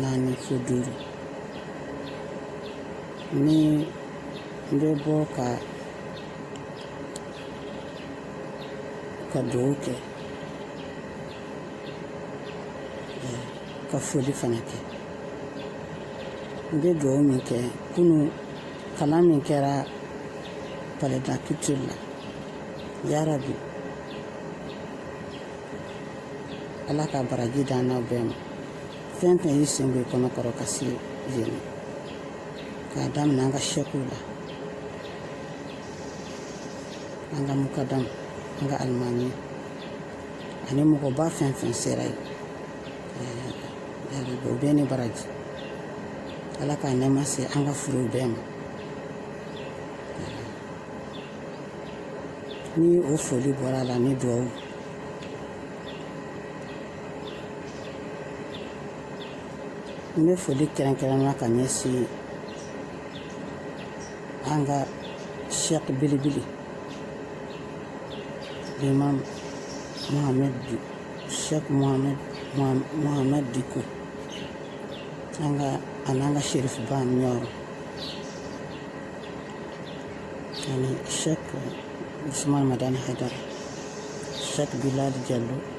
naani fo duuru ni n bɛ bɔ ka ka dugawu kɛ ka foli fana kɛ n bɛ dugawu min kɛ kunu kalan min kɛra palais de la culture la yarabi ala ka baraji d'an n'aw bɛɛ ma fɛn fɛn y'i sen bɔ i kɔnɔ kɔrɔ ka se yen k'a daminɛ an ka sɛkiw la an ka mukadamu an ka alimami ani mɔgɔba fɛn fɛn sera yen o bɛɛ ni baraji ala k'a nɛɛma se an ka furew bɛɛ ma ni o foli bɔra a la ni duwawu n bɛ foli kɛrɛnkɛrɛnna ka ɲɛsin an ka sɛki belebele imam sɛki mohamed diko an'an ka sherifu ba ɲɔrɔ ani sɛki usman madani haidara sɛki bilali jalo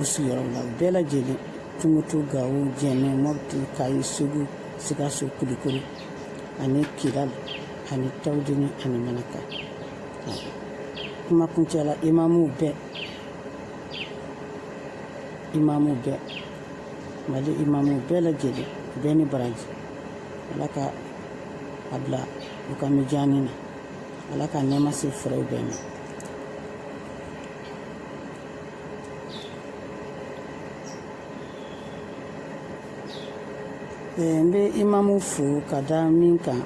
u sigiyɔrɔ la bɛɛ lajɛlen tumutu gawo jɛnɛ mɔputi kayi segu sikaso kulikoro ani kidal ani tawudini ani manaka kuma kuncɛ la imamuw bɛɛ mali imamuw bɛɛ lajɛlen bɛɛ ni baraji ala ka a bila u ka mijaani na ala ka nɛɛma se furew bɛɛ ma Ee, n bɛ imamuw fo ka da min kan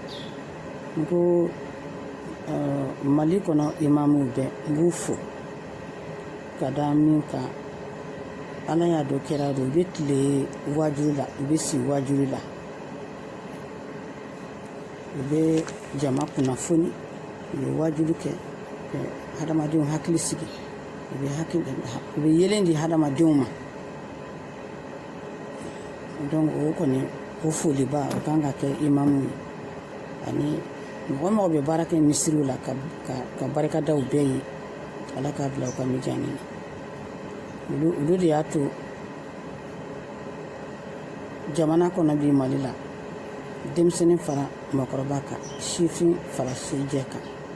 n ko uh, mali kɔnɔ imamuw bɛɛ n b'u fo ka da min kan ala y'a dɔn kira y'a dɔn u bɛ tile wajuli la u bɛ si wajuli la u bɛ jama kunnafoni u ye wajuli kɛ hadamadenw hakili sigi u bɛ hakili u bɛ yeelen di hadamadenw ma donc o kɔni o foliba o kan ka kɛ imamu ye ani mɔgɔ mɔgɔ bɛ baara kɛ misiriw la ka ka ka barika da u bɛɛ ye ala k'a bila u ka mijaani na olu olu de y'a to jamana kɔnɔ bi mali la denmisɛnnin fara mɔgɔkɔrɔba kan sifin fara sijɛ kan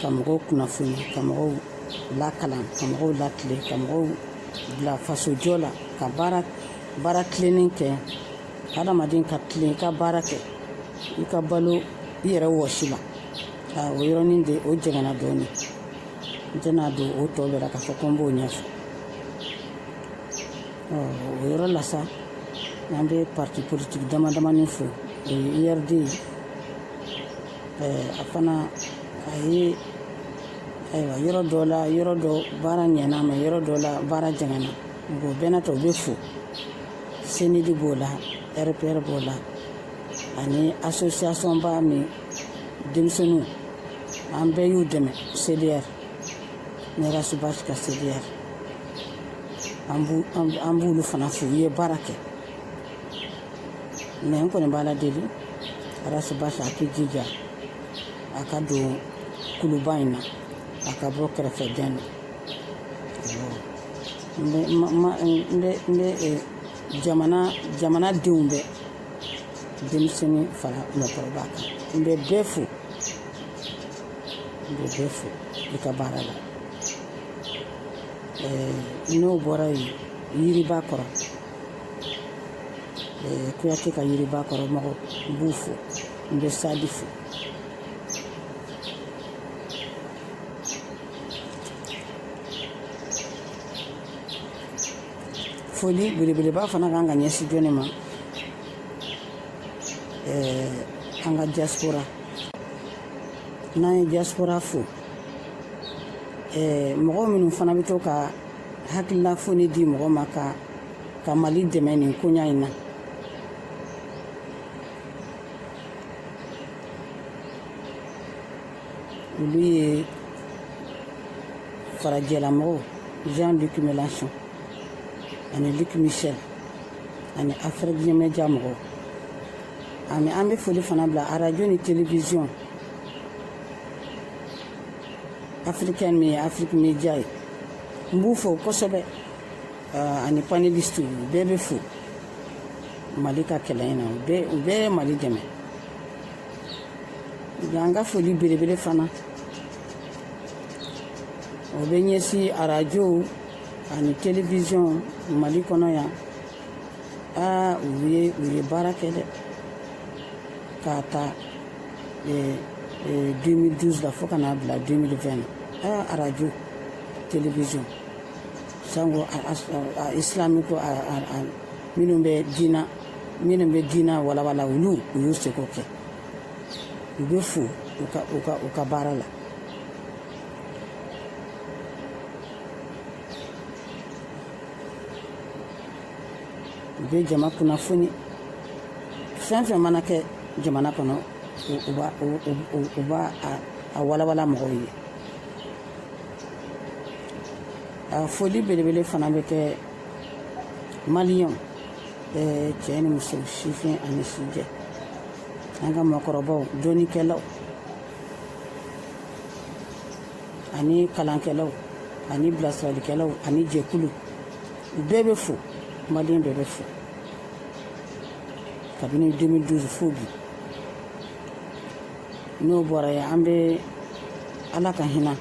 ka mɔgɔw kunnafoni ka mɔgɔw lakalan ka mɔgɔw latilen ka mɔgɔw bila fasojɔ la ka baara baara tilennen kɛ hadamaden ka tilen i ka baara kɛ i ka balo i yɛrɛ wɔsi la o yɔrɔnin de o jɛngɛnna dɔɔnin n tɛna don o tɔ bɛɛ la k'a fɔ ko n b'o ɲɛfɔ o yɔrɔ la sa an bɛ parti politique damadamanin fo o ye URD ye a fana a ye ayiwa yɔrɔ dɔ la yɔrɔ dɔ baara ɲɛna mɛ yɔrɔ dɔ la baara jɛngɛna o bɛɛ n'a ta u bɛ fo CNID b'o la RPR b'o la ani association ba min denmisɛnninw an bɛɛ y'u dɛmɛ CDR ne ras bath ka CDR an b'u an b'olu fana fo u ye baara kɛ mɛ n kɔni b'ala deli ras bath a k'i jija a ka don kuluba in na a ka bɔ kɛrɛfɛ dɛn na n bɛ ma ma n bɛ n bɛ eh, jamana jamana denw bɛɛ denmisɛnnin fara mɔgɔkɔrɔba kan n bɛ bɛɛ fo n bɛ bɛɛ fo i ka baara la eh, n'o bɔra yen yiriba kɔrɔ kuyate ka yiriba kɔrɔ mɔgɔ n b'u fo n bɛ SADI fo foli belebeleba fana kan ka ɲɛsin jɔni ma an ka diaspora n'an ye diaspora fo mɔgɔ minnu fana bɛ to ka hakilila foni di mɔgɔ ma ka ka mali dɛmɛ nin koɲa in na olu ye farajɛlamɔgɔw jean luc mélenchon ani luc michel ani afrique media mɔgɔw ani an bɛ foli fana bila arajo ni television africaine min ye afrique media ye n b'u fo kosɛbɛ ah, ani paneliste u bɛɛ bɛ fo mali ka kɛlɛ in na u bɛɛ u bɛɛ ye mali dɛmɛ an ka foli belebele fana o bɛ ɲɛsin arajow ani television mali kɔnɔ yan aa u ye u ye baara kɛ dɛ k'a ta 2012 la fo ka n'a bila 2020 na aa radio télévision sango islamiko minnu bɛ diina minnu bɛ diina walawala olu u y'u seko kɛ u bɛ fo u ka u ka u ka baara la u bɛ jama kunnafoni fɛn fɛn mana kɛ jamana kɔnɔ u b'a a walawala mɔgɔw ye a foli belebele fana bɛ kɛ maliyɛnw cɛ ni muso sifin ani sijɛ an ka mɔgɔkɔrɔbaw dɔnnikɛlaw ani kalankɛlaw ani bilasiralikɛlaw ani jɛkulu bɛɛ bɛ fo maliyɛn bɛɛ bɛ fo kabini 2012 fo bi n'o bɔra yen an bɛ ala ka hinɛ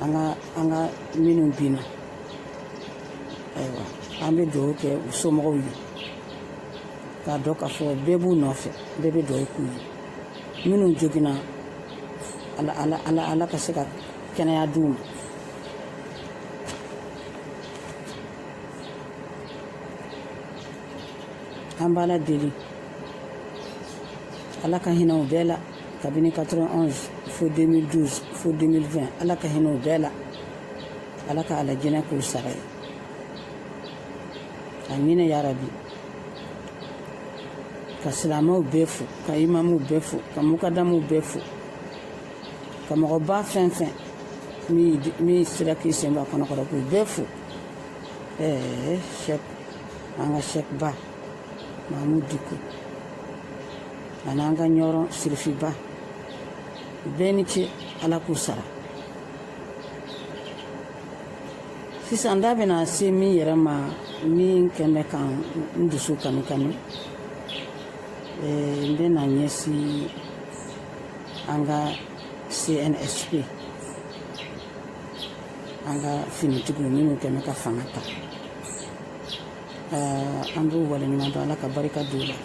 an ka an ka minnu binna ayiwa an bɛ dugawu kɛ u somɔgɔw ye k'a dɔn k'a fɔ bɛɛ b'u nɔfɛ bɛɛ bɛ dugawu k'u ye minnu joginna ala ala ala ala ka se ka kɛnɛya d'u ma an b'ala deli ala ka hinɛ u bɛɛ la kabini 91 fo 2012 fo 2020 ala ka hinɛ u bɛɛ la ala ka alijinɛ k'u sara ye amina yarabi ka silamɛw bɛɛ fo ka imamuw bɛɛ fo ka mukadamuw bɛɛ fo ka mɔgɔba fɛn fɛn min sera k'i sen bɔ a kɔnɔ kɔrɔ k'u bɛɛ fo ɛɛ cheikh an ka cheikhba mahamudu diko ani an ka ɲɔrɔn sirifiba u bɛɛ ni ce ala k'u sara sisan da bɛna se min yɛrɛ ma min kɛn bɛ ka n dusu kanu kanu n bɛna ɲɛsin an ka cnsp an ka finitigiw minnu kɛn bɛ ka fanga ta an b'u waleɲuman dɔn ala ka barika d'u la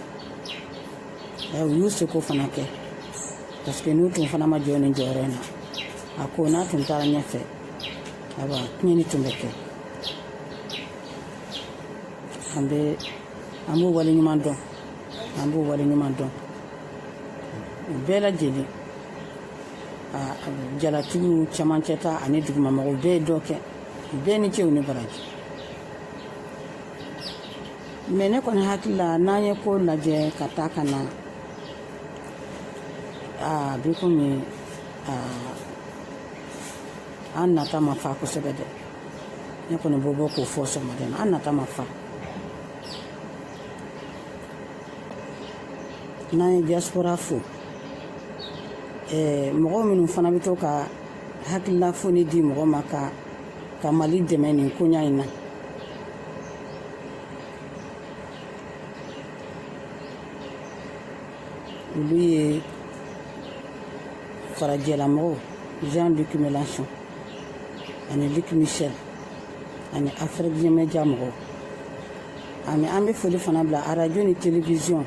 u y'u seko fana kɛ parce que n'u tun fana ma jɔ nin jɔyɔrɔ in na a ko n'a tun taara ɲɛfɛ ayiwa tiɲɛni tun bɛ kɛ an bɛ an b'u waleɲuman dɔn an b'u waleɲuman dɔn u bɛɛ lajɛlen jalatigiw cɛmancɛ ta ani dugumamɔgɔw bɛɛ ye dɔ kɛ u bɛɛ ni ce u ni baraji mɛ ne kɔni hakili la n'an ye ko lajɛ ka taa ka na a bi komi an nata ma fa kosɛbɛ dɛ ne kɔni b'o bɔ k'o fɔ sɔgɔmada in na an nata ma fa n'an ye diaspora fo eh, mɔgɔ minnu fana bɛ to ka hakilila foni di mɔgɔ ma ka ka mali dɛmɛ nin koɲa in na olu ye farajɛlamɔgɔw jean luc mélenchon ani luc michel ani afiriki media mɔgɔw ani an bɛ foli fana bila arajo ni televiziyɔn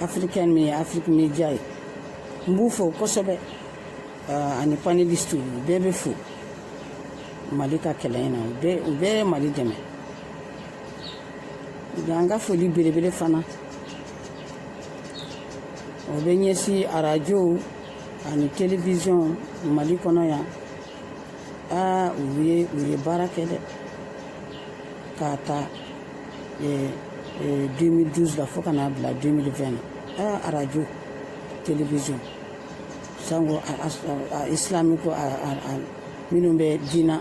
afirikɛn min ye afiriki media ye n b'u fo kosɛbɛ ani panelisiti u bɛɛ bɛ fo mali ka kɛlɛ in na u bɛɛ u bɛɛ ye mali dɛmɛ nka an ka foli belebele fana o bɛ ɲɛsin arajow ani télévision mali kɔnɔ yan aa u ye u ye baara kɛ dɛ k'a ta 2012 la fo ka n'a bila 2020 na aa arajo télévision sango islamique minnu bɛ diina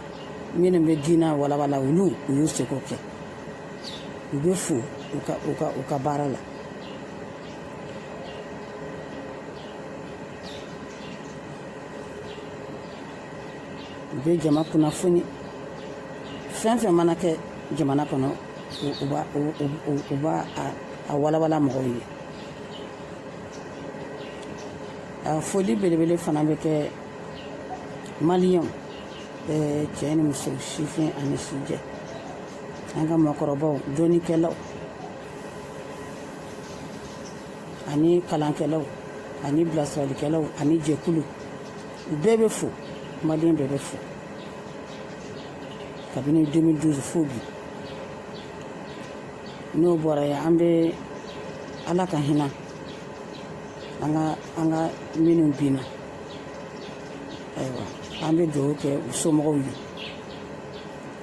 minnu bɛ diina walawala olu u y'u seko kɛ u bɛ fo u ka u ka u ka baara la u bɛ jama kunnafoni fɛn fɛn mana kɛ jamana kɔnɔ u b'a u b'a a walawala mɔgɔw ye a foli belebele fana bɛ kɛ maliyɛnw cɛ ni muso sifin ani sijɛ an ka mɔgɔkɔrɔbaw dɔnnikɛlaw ani kalankɛlaw ani bilasiralikɛlaw ani jɛkulu u bɛɛ bɛ fo maliyɛn bɛɛ bɛ fo kabini 2012 fo bi n'o bɔra yen an bɛ ala ka hinɛ an ka an ka minnu binna ayiwa an bɛ dugawu kɛ u somɔgɔw ye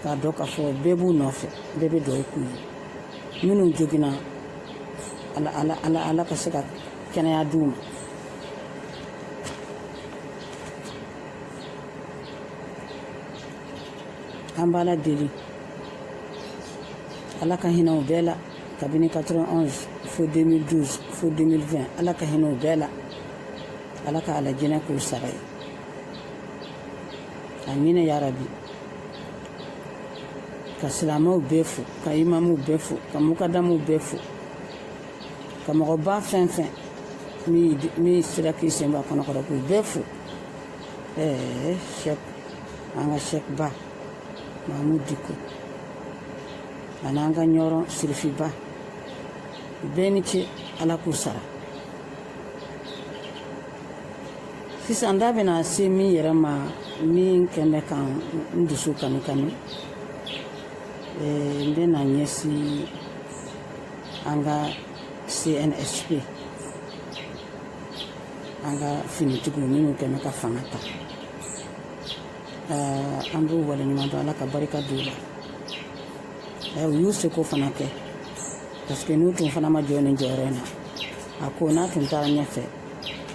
k'a dɔn k'a fɔ bɛɛ b'u nɔfɛ bɛɛ bɛ dugawu k'u ye minnu joginna ala ala ala ala ka se ka kɛnɛya d'u ma an b'ala deli ala ka hinɛ u bɛɛ la kabini 91 fo 2012 fo 2020 ala ka hinɛ u bɛɛ la ala ka alijinɛ k'u sara ye amina yarabi ka silamɛw bɛɛ fo ka imamuw bɛɛ fo ka mukadamuw bɛɛ fo ka mɔgɔba fɛn fɛn min sera k'i sen bɔ a kɔnɔ kɔrɔ k'u bɛɛ fo ɛɛ sɛk an ka sɛkba mahamudu diko ani an ka ɲɔrɔn sirifiba bɛɛ ni ce ala k'u sara sisan da bɛna se min yɛrɛ ma min kɛn bɛ ka n dusu kami kami eh, n bɛna ɲɛsin an ka cnsp an ka finitigiw minnu kɛn bɛ ka fanga ta eh, an b'u waleɲuman dɔn ala ka barika don u la eh, u y'u seko fana kɛ parce que n'u tun fana ma jɔ nin jɔyɔrɔ in na a ko n'a tun taara ɲɛfɛ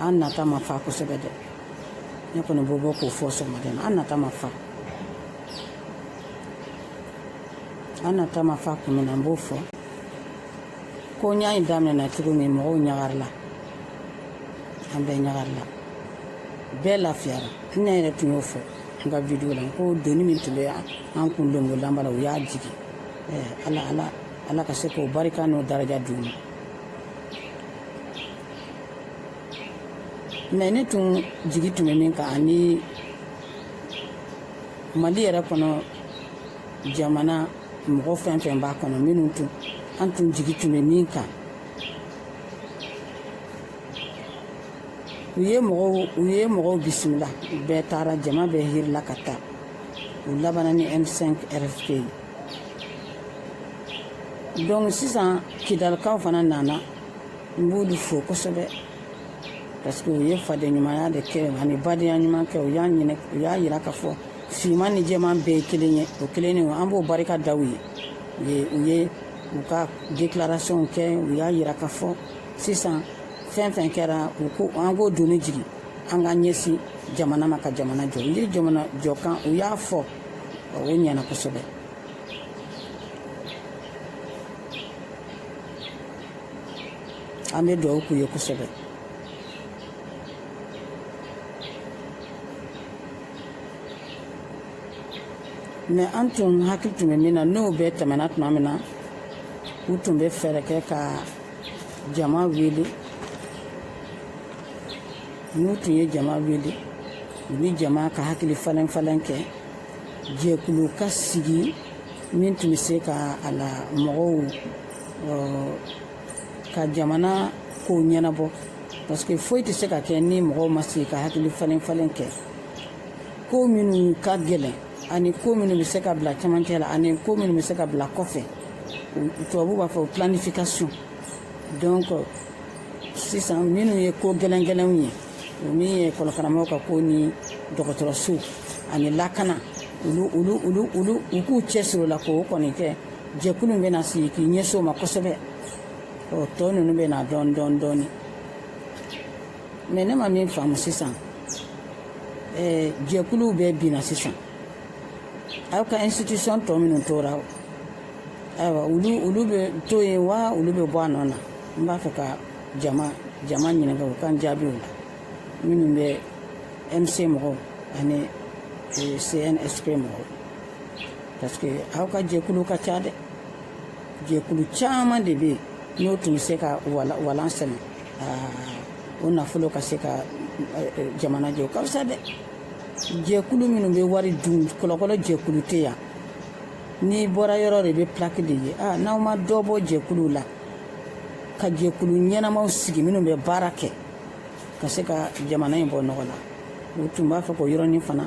an nata ma fa kosɛbɛ dɛ ne kɔni b'o bɔ k'o fɔ sɔgɔmada in na an nata ma fa an nata ma fa kun min na n b'o fɔ ko n y'a ye daminɛna cogo min mɔgɔw ɲagarila an bɛɛ ɲagarila bɛɛ lafiyara ne yɛrɛ tun y'o fɔ n ka video la ko doni min tun bɛ an kun lankolonba la u y'a jigin ala ala ala ka se k'o barika n'o daraja d'u ma mais ne tun jigi tun bɛ min kan ani mali yɛrɛ kɔnɔ jamana mɔgɔ fɛn fɛn b'a kɔnɔ minnu tun an tun jigi tun bɛ min kan u ye mɔgɔw u ye mɔgɔw bisimila bɛɛ taara jama bɛɛ hirila ka taa u labanna ni m5 rfp ye donc sisan kidalikaw fana nana n b'olu fo kosɛbɛ parce que u ye fadenɲumanya de kɛ ani badenya ɲuman kɛ u y'a ɲinɛ u y'a yira k'a fɔ finman ni jɛman bɛɛ ye kelen ye o kelen ne an b'o barika da u ye u ye u ye u ka déclaration kɛ u y'a yira k'a fɔ sisan fɛn fɛn kɛra u ko an k'o doni jigin an ka ɲɛsin jamana ma ka jamana jɔ u ye jamana jɔ kan u y'a fɔ o ɲɛna kosɛbɛ an bɛ dugawu k'u ye kosɛbɛ mais an tun hakili tun bɛ min na n'o bɛɛ tɛmɛna tuma min na u tun bɛ fɛɛrɛ kɛ ka jama wele n'u tun ye jama wele u ni jama ka hakili falen falen kɛ jɛkulu ka sigi min tun bɛ se ka a la mɔgɔw ka jamana kow ɲɛnabɔ parce que foyi tɛ se ka kɛ ni mɔgɔw ma sigi ka hakili falen falen kɛ ko minnu ka gɛlɛn ani ko minnu bɛ se ka bila camancɛ la ani ko minnu bɛ se ka bila kɔfɛ tubabu b'a fɔ planification donc sisan minnu ye ko gɛlɛn gɛlɛnw ye o min ye ekɔlikaramɔgɔw ka ko ni dɔgɔtɔrɔso ani lakana u k'u cɛsiri o la k'o kɔni kɛ jɛkulu in bɛna sigi k'i ɲɛsin o ma kosɛbɛ o tɔ ninnu bɛ na dɔɔni dɔɔni dɔɔni mais ne ma min faamu sisan ɛɛ jɛkuluw bɛɛ binna sisan aw ka institution tɔ minnu tora ayiwa olu olu bɛ to yen wa olu bɛ bɔ a nɔ na n b'a fɛ ka jama jama ɲininka u k'an jaabi o la minnu bɛ m5 mɔgɔw ani cnsp mɔgɔw parce que aw ka jɛkulu ka ca dɛ jɛkulu caman de bɛ yen n'o tun bɛ se ka walan sɛnɛ o nafolo ka se ka jamana jɔ ka fisa dɛ jɛkulu minnu bɛ wari dun kɔlɔkɔlɔ jɛkulu tɛ yan n'i bɔra yɔrɔ de bɛ pilaki de ye aa n'aw ma dɔ bɔ jɛkuluw la ka jɛkulu ɲɛnamaw sigi minnu bɛ baara kɛ ka se ka jamana in bɔ nɔgɔ la u tun b'a fɛ k'o yɔrɔnin fana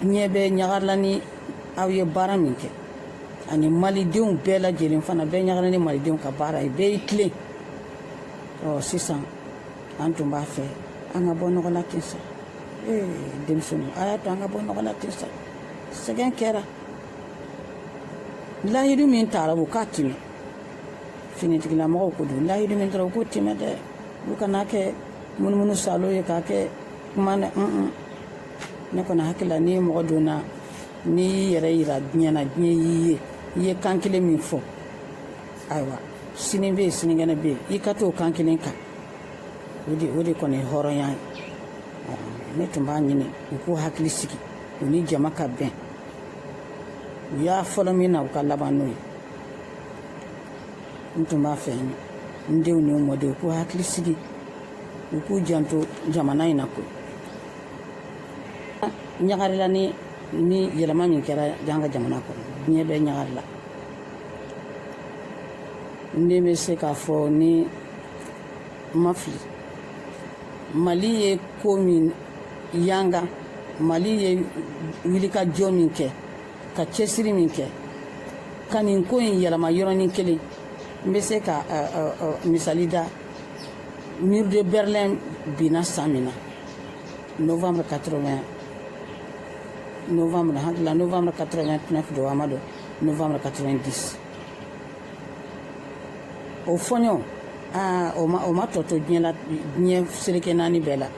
diɲɛ bɛɛ ɲagarila ni aw ye baara min kɛ ani malidenw bɛɛ lajɛlen fana bɛɛ ɲagarila ni malidenw ka baara ye bɛɛ y'i tilen ɔ sisan an tun b'a fɛ an ka bɔ nɔgɔ la ten sa ee denmisɛnninw a y'a to an ka bɔ nɔgɔ la ten sa sɛgɛn kɛra layidu min tara u k'a tiimɛ finitigilamɔgɔw ko don layidu min tara u k'o tiimɛ dɛ u kana kɛ munumunu salo ye k'a kɛ kuma na ne kɔni hakili la ni mɔgɔ donna n'i y'i yɛrɛ yira diɲɛ na diɲɛ y'i ye i ye kan kelen min fɔ ayiwa sini bɛ yen sinikɛnɛ bɛ yen i ka t'o kan kelen kan o de o de kɔni ye hɔrɔnya ye ne tun b'a ɲini u k'u hakili sigi u ni jama ka bɛn u y'a fɔlɔ min na u k'a laban n'o ye n tun b'a fɛ n denw ni n mɔdenw u k'u hakili sigi u k'u janto jamana in na koyi ɲagarila ni nin yɛlɛma min kɛra an ka jamana kɔnɔ diɲɛ bɛɛ ɲagarila n den n bɛ se k'a fɔ ni n ma fili mali ye ko min yanga mali ye wulikajɔ min kɛ ka cɛsiri min kɛ ka nin ko in yɛlɛma yɔrɔnin kelen n bɛ se k'a misali da mur de berlin binna san min na novembre 80 novembre n hakili la novembre 89 don a ma don novembre 90 o fɔɲɔ aa o ma o ma tɔ to diɲɛ la diɲɛ seleke naani bɛɛ la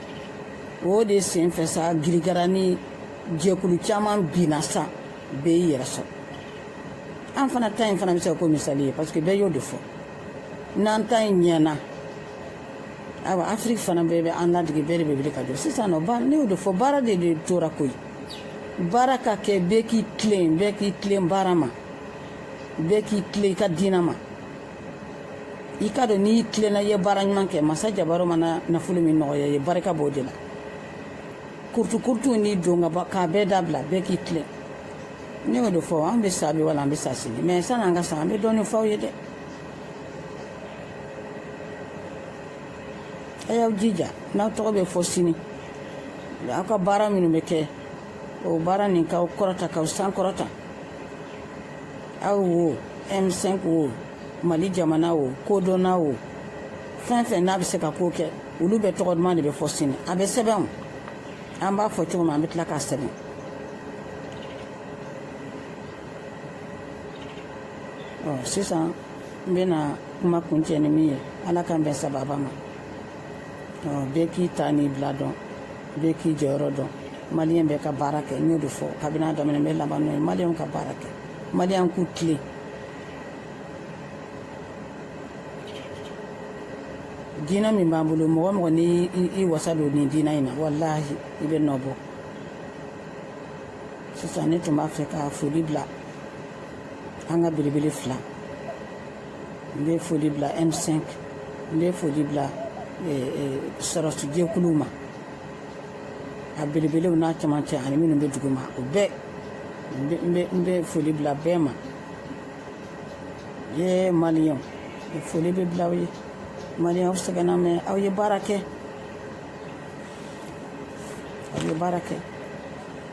o de sen fɛ sa girigara ni jɛkulu caman binna sa bɛɛ y'i yɛrɛ sɔrɔ an fana ta in fana bɛ se ka k'o misali ye parce que bɛɛ y'o de fɔ n'an ta in ɲɛna awa afiriki fana bɛɛ bɛ an ladege bɛɛ de bɛ wuli ka jɔ sisan nɔ baara ne y'o de fɔ baara de de tora koyi baara ka kɛ bɛɛ k'i tilen bɛɛ k'i tilen baara ma bɛɛ k'i tilen i ka diinɛ ma i ka dɔn n'i tilenna i ye baara ɲuman kɛ masa jabaro mana nafolo min nɔgɔya i ye barika b'o de la kurutukurutu n'i don ka k'a bɛɛ dabila bɛɛ k'i tilen ne y'o de fɔ an bɛ sa bi wala an bɛ sa sini mɛ san'an ka sa an bɛ dɔɔnin f'aw ye dɛ a y'aw jija n'aw tɔgɔ bɛ fɔ sini aw ka baara minnu bɛ kɛ o baara nin k'aw kɔrɔta k'aw sankɔrɔta aw wo m5 wo mali jamana wo kodɔnna wo fɛn fɛn n'a bɛ se ka ko kɛ olu bɛɛ tɔgɔ duman de bɛ fɔ sini a bɛ sɛbɛn o an b'a fɔ cogo min an bɛ tila k'a sɛbɛn ɔ sisan n bɛna kuma kuncɛ ni min ye ala k'an bɛn sababa ma bɛɛ k'i ta n'i bila dɔn bɛɛ k'i jɔyɔrɔ dɔn maliyɛn bɛɛ ka baara kɛ n y'o de fɔ kabini a daminɛ n bɛ laban n'o ye maliyɛnw ka baara kɛ maliyɛnw k'u tilen diinɛ min b'an bolo mɔgɔ o mɔgɔ n'i y'i wasa don nin diinɛ in na walahi i bɛ nɔ bɔ sisan ne tun b'a fɛ ka foli bila an ka belebele fila n bɛ foli bila M5 n bɛ foli bila sɔrɔsijɛkuluw ma a belebelew n'a cɛmancɛ ani minnu bɛ duguma o bɛɛ n bɛ foli bila bɛɛ ma ye maliyɛnw foli bɛ bila aw ye maliyɛnw sɛgɛnna mɛ aw ye baara kɛ aw ye baara kɛ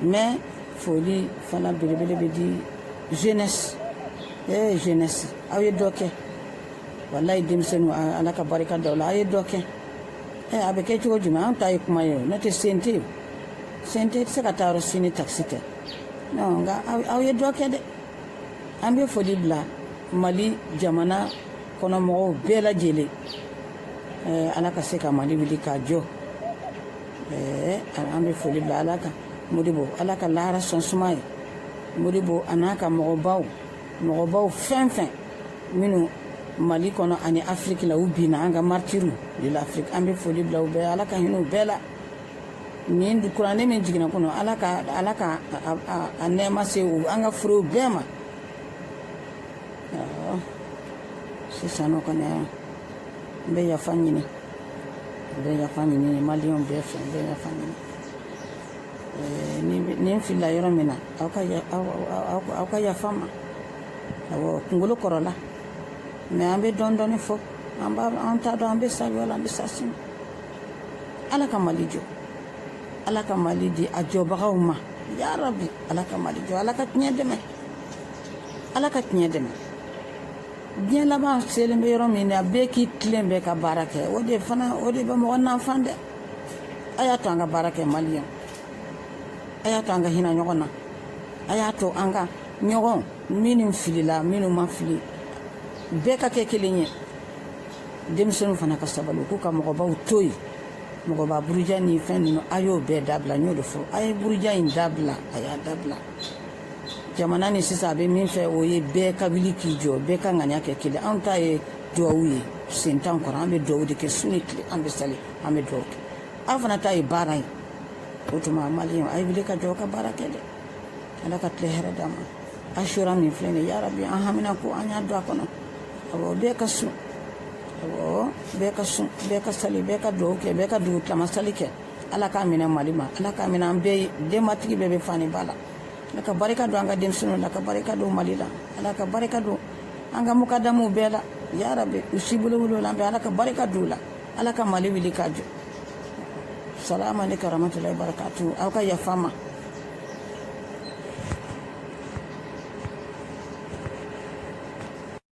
mɛ foli fana belebele bɛ di jeunesse ee jeunesse aw ye dɔ kɛ walayi denmisɛnninw ala ka barika da aw la aw ye dɔ kɛ ee a bɛ kɛ cogo jumɛn an ta ye kuma ye n'o tɛ sen tɛ yen sen tɛ se ka taa yɔrɔ si ni takisi tɛ nka aw ye dɔ kɛ dɛ an bɛ foli bila mali jamana kɔnɔ mɔgɔw bɛɛ lajɛlen ala ka se ka mali wuli k'a jɔ an bɛ foli bila ala ka modibo ala ka lahara sɔn suma ye modibo a n'a ka mɔgɔbaw mɔgɔbaw fɛn fɛn minnu mali kɔnɔ ani afiriki la u binna an ka martyrs de l'afrique an bɛ foli bila u bɛɛ ala ka hinɛ u bɛɛ la nin kuranɛ min jiginna kunun ala ka ala ka a nɛɛma se an ka furew bɛɛ ma sisan nɔ kɔni n bɛ yafa ɲini n bɛ yafa ɲini maliyɛnw bɛɛ fɛ n bɛ yafa ɲini ni n filila yɔrɔ min na aw ka aw ka yafa n ma awɔ kunkolo kɔrɔla mɛ an bɛ dɔɔni dɔɔni fɔ an b'a an t'a dɔn an bɛ sa wula an bɛ sa sini ala ka mali jɔ ala ka mali di a jɔbagaw ma ya rabi ala ka mali jɔ ala ka tiɲɛ dɛmɛ ala ka tiɲɛ dɛmɛ diɲɛ laban selen bɛ yɔrɔ min na bɛɛ k'i tilen bɛɛ ka baara kɛ o de fana o de bɛ mɔgɔ nafan dɛ a y'a to an ka baara kɛ mali yan a y'a to an ka hinɛ ɲɔgɔn na a y'a to an ka ɲɔgɔn minnu filila minnu ma fili bɛɛ ka kɛ kelen ye denmisɛnninw fana ka sabali u k'u ka mɔgɔbaw to yen mɔgɔba buruja ni fɛn ninnu a y'o bɛɛ dabila n y'o de fɔ a ye buruja in dabila a y'a dabila jamana ni sisan a bɛ min fɛ o ye bɛɛ ka wuli k'i jɔ bɛɛ ka ŋaniya kɛ kelen anw ta ye duwawu ye sen t'an kɔrɔ an bɛ duwawu de kɛ su ni tile an bɛ sali an bɛ duwawu kɛ aw fana ta ye baara ye o tuma maliyɛnw a ye wuli ka jɔ ka baara kɛ dɛ ala ka tile hɛrɛ d'an ma asura min filɛ nin ye yarabi an haminanko an y'a don a kɔnɔ awɔ bɛɛ ka sun awɔ bɛɛ ka sun bɛɛ ka sali bɛɛ ka duwawu kɛ bɛɛ ka dugu tilama sali kɛ ala k'a minɛ mali ma ala k'a minɛ an bɛɛ ye denbatigi bɛɛ bɛ fa ni ba la ala ka barika don an ka denmisɛnninw na ka barika don mali la ala ka barika don an ka mukadamuw bɛɛ la yarabi u si bolo wolo la an bɛ ala ka barika don u la ala ka mali wuli k'a jɔ salamu aleykum wa rahmatullahi wa barakatu aw ka yafa n ma